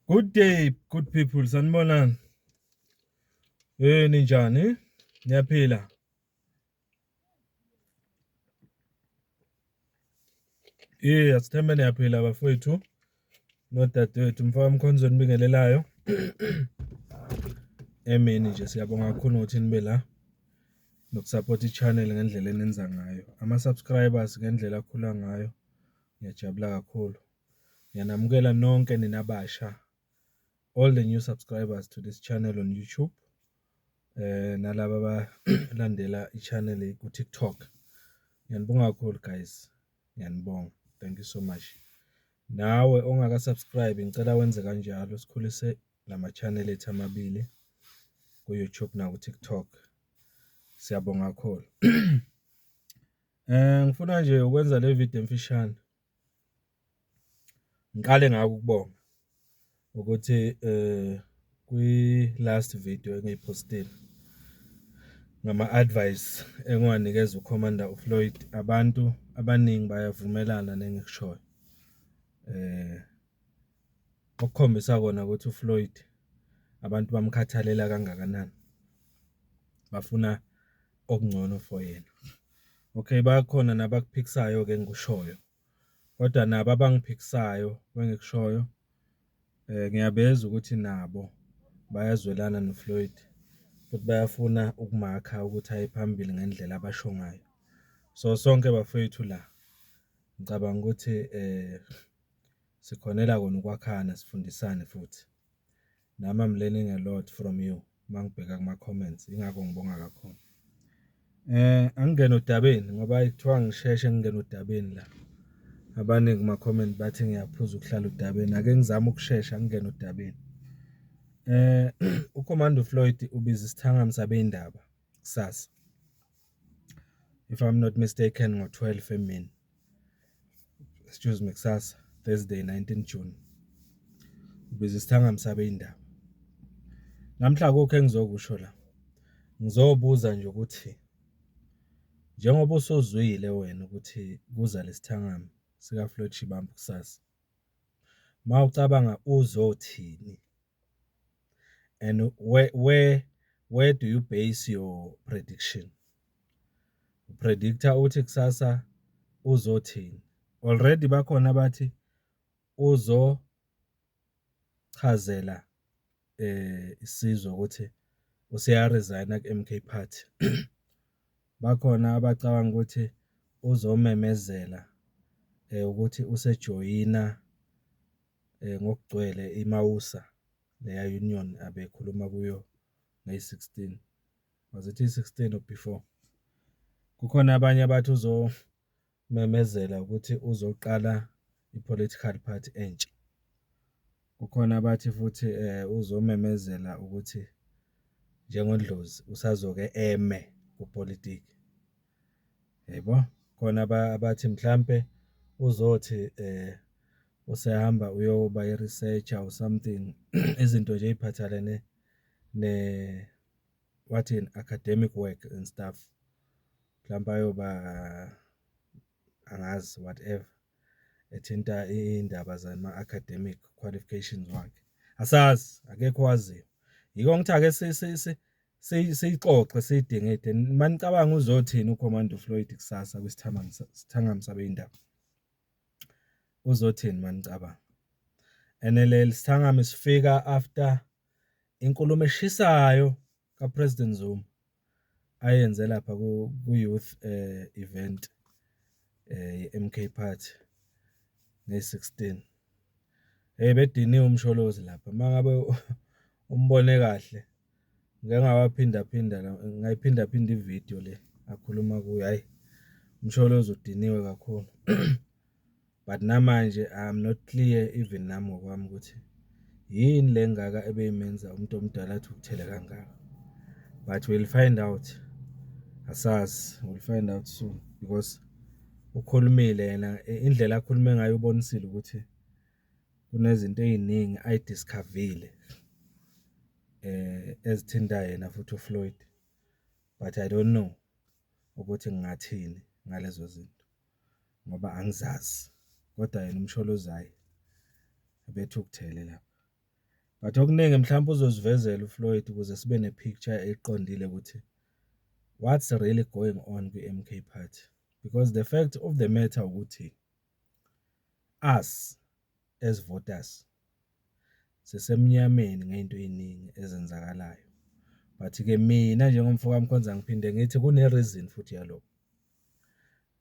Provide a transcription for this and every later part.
Good day good people sanibonani Eh ninjani niyaphila Eh asithembe niyaphila bafowethu nodadewethu mfaka mkhonzweni bingelelayo emini nje siyabonga kakhulu ngokuthi nibe la nokusupport i-channel ngendlela enenza ngayo ama-subscribers ngendlela akhula ngayo ngiyajabula kakhulu Ngiyanamukela nonke nina basha all the new subscribers to this channel on YouTube eh nalabo abalandela i-channel ku-TikTok. Ngiyanibonga kakhulu guys. Ngiyanibonga. Thank you so much. Nawe ongaka subscribe ngicela wenze kanjalo sikhulise lama channel ethu amabili ku YouTube na ku TikTok. Siyabonga kakhulu. Eh ngifuna nje ukwenza le video emfishane. Ngiqale ngako ukubonga ukuthi kwi-last video engiyiphostile ngama-advice engiwanikeza uCommander uFloyd, abantu abaningi bayavumelana nengikushoyo. Okukhombisa kona ukuthi uFloyd abantu bamkhathalela kangakanani, bafuna okungcono for yena okay bakhona nabakuphikisayo ke engikushoyo kodwa nabo abangiphikisayo bengikushoyo eh ngiyabeza ukuthi nabo bayazwelana noFloyd futhi bayafuna ukumakha ukuthi aye phambili ngendlela abasho ngayo so sonke bafethu la ngicabanga ukuthi eh sikhonela kona ukwakhana sifundisane futhi Nami I'm learning a lot from you mangibheka kuma comments ingakho ngibonga kakhulu. Eh angingena odabeni ngoba kuthiwa ngisheshe ngingena odabeni la. Abaningi kuma comment bathi ngiyaphuza ukuhlala odabeni ake ngizame ukushesha ngingena odabeni. Eh uCommando Floyd ubiza isithangami sabezindaba kusasa. If I'm not mistaken ngo 12 emini. excuse me kusasa Thursday 19 June biza isithangami sabe indaba namhla akukho engizokusho la ngizobuza nje ukuthi njengoba usuzwile wena ukuthi kuza lesithangami sika Floyd Shibambu kusasa mawucabanga uzothini and where where where do you base your prediction? Uprediktha uthi kusasa uzothini? Already bakhona abathi uzochazela eh isizwe ukuthi useyaresigna ku-MK Party. Bakhona abacabanga ukuthi uzomemezela eh ukuthi usejoyina ngokugcwele iMausa leya union abekhuluma kuyo May 16 was it 16 or before kukhona abanye abathi uzomemezela ukuthi uzoqala ipolitical party entsha kukhona abathi futhi eh, uzomemezela ukuthi njengodlozi usazoke eme kupolitiki Yebo, khona abathi mhlampe uzothi eh usehamba uyoba i-researcher or something izinto nje ey'phathelene ne wathini academic work and stuff mhlawumbe ayoba angazi whatever ethinta iy'ndaba zama-academic qualifications wakhe, asazi akekho owaziyo. Yiko ngithi ake siyixoxe siyidingide manicabanga uzothini uCommando Floyd kusasa kwisithangami sabeyindaba uzothini manicabanga and leli sithangami sifika after inkulumo eshisayo kaPresident Zuma ayenze lapha ku-youth eh, event eh, ye-MK Party nge-16 hey bediniwe umsholozi lapha mangabe umbone kahle ngike ngawaphindaphinda ngayiphindaphinda ividiyo le akhuluma kuyo, hhayi uMsholozi udiniwe kakhulu but namanje I'm not clear even nami ngokwami ukuthi yini le ngaka ebeyimenza umuntu omdala athi ukuthele kangaka but we'll find out asazi we'll find out soon because ukhulumile yena indlela akhulume ngayo ubonisile ukuthi kunezinto ey'ningi ay'diskhavile ezithinta yena futhi uFloyd, but I don't know ukuthi ngingathini ngalezo zinto ngoba angizazi kodwa yena uMsholozayi ubethukuthele lapho. But okuningi mhlawumpe uzosivezela uFloyd ukuze sibe ne-picture eqondile ukuthi what's really going on kwi-M_K party because the fact of the matter ukuthi. Us as voters sisemnyameni ngento eziningi ezenzakalayo but ke mina njengomfo kaMkhonza ngiphinde ngithi kune reason futhi yalokho.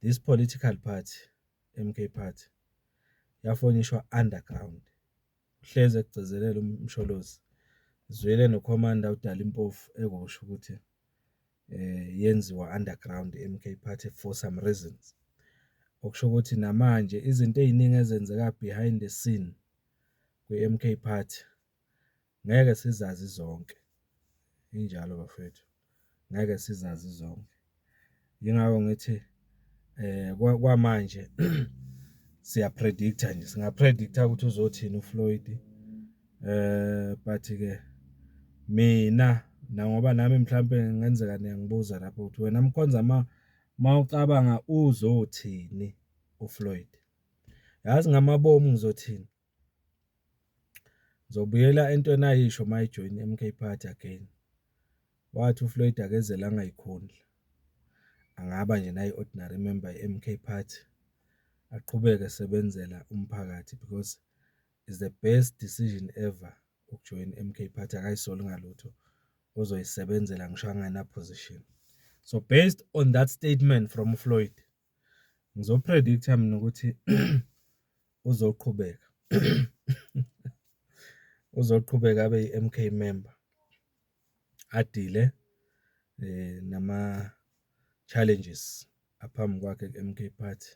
This political party MK party yafonishwa underground hlezi ekugcizelela uMsholozi zwele noCommander uDali Mpofu ekusho ukuthi yenziwa underground i-MK Party for some reasons. Okusho ukuthi namanje izinto ey'ningi ezenzeka behind the scene kwi-MK Party ngeke sizazi zonke, injalo bafwethu ngeke sizazi zonke. Yingakho ngithi. eh kwamanje siya predictor nje singa predictor ukuthi uzothini uFloyd eh but ke mina na ngoba nami mhlambe ngenzeka niyangibuza lapho ukuthi wena mkhonza ma mawucabanga uzothini uFloyd yazi ngamabomu ngizothini Ngizobuyela entweni ayisho uma ejoyina i-M_K party again, wathi uFloyd akezele angayikhonzi, angaba nje nayi ordinary member ye-M_K party, aqhubeke esebenzela umphakathi because is the best decision ever ukujoyina i-M_K party akayisoli ngalutho uzoyisebenzela ngisho angana-position. So based on that statement from uFloyd. Ngizopredict-a mina ukuthi uzoqhubeka uzoqhubeka abe i-M_K member, adile nama-challenges aphambi kwakhe ku-M_K party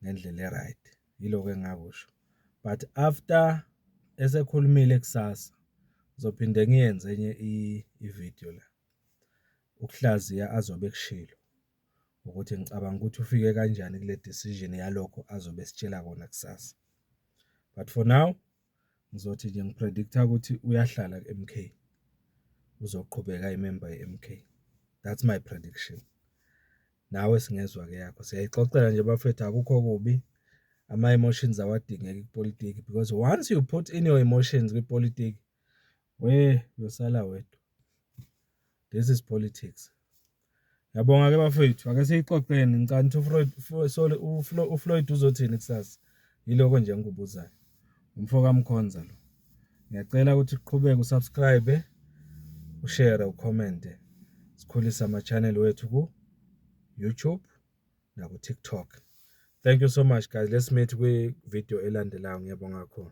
ngendlela e-right. Yilokho engingakusho. But after esekhulumile kusasa, ngizophinde ngiyenze enye i-video la, ukuhlaziya azobe ekushilo. ukuthi ngicabanga ukuthi ufike kanjani kule decision yalokho azobe esitshela kona kusasa but for now ngizothi nje ngipredict-a ukuthi uyahlala ku-MK uzoqhubeka imemba ye-MK that's my prediction nawe singezwa ke yakho siyayixoxela nje bafethu akukho kubi ama emotions awadingeki kupolitiki because once you put in your emotions kwipolitiki we uyosala wedwa this is politics Ngiyabonga ke bafethu ake siyixoxeni ngicani ukuthi uFloyd sorry uFloyd uzothini kusasa yiloko nje ngikubuzayo umfo kaMkhonza lo ngiyacela ukuthi uqhubeke usubscribe ushare ucommente sikhulise ama channel wethu ku YouTube naku TikTok thank you so much guys let's meet kwi video elandelayo ngiyabonga kakhulu